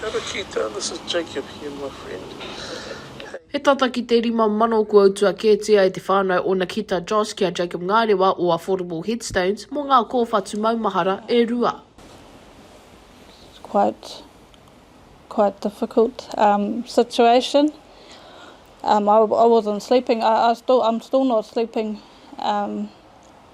Kia ora Keita, this is Jacob here my friend, hei. He tata ki te rima mano kua utua kētia e te whānau o Nakita Joss ki a Jacob Ngārewa o Affordable Headstones mō ngā kōwhatu maumahara e rua. It's quite quite difficult um situation um I I wasn't sleeping I I still I'm still not sleeping um.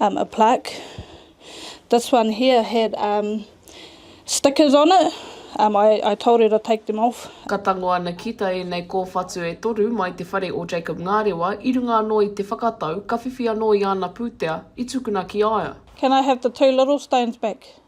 um, a plaque. This one here had um, stickers on it. Um, I, I told her to take them off. Ka tango ana ki ta enei kowhatu e toru mai te whare o Jacob Ngarewa i runga ano i te whakatau ka whiwhi ano i ana putea i tukuna ki aia. Can I have the two little stones back?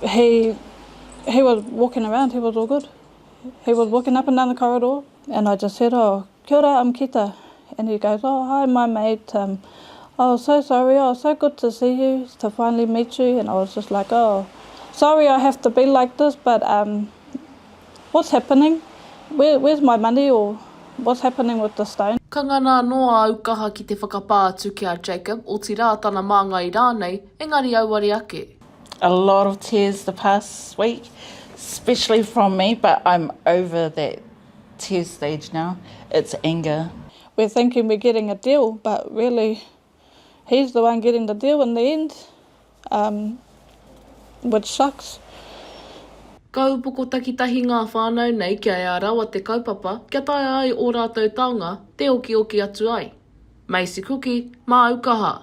he he was walking around he was all good he was walking up and down the corridor and I just said oh kia ora I'm Kita and he goes oh hi my mate um I was so sorry oh so good to see you to finally meet you and I was just like oh sorry I have to be like this but um what's happening where where's my money or what's happening with the stone. Ka ngana anō āu kaha ki te whakapā atu ki a Jacob, otirā tana māngai rānei, engari auare ake. A lot of tears the past week, especially from me, but I'm over that tear stage now, it's anger. We're thinking we're getting a deal, but really he's the one getting the deal in the end, um, which sucks. Ka upoko takitahi ngā whānau nei kia ea rawa te kaupapa kia taea ai ō rātou taonga te okioki atu ai. Macy Cooke, Māu kaha!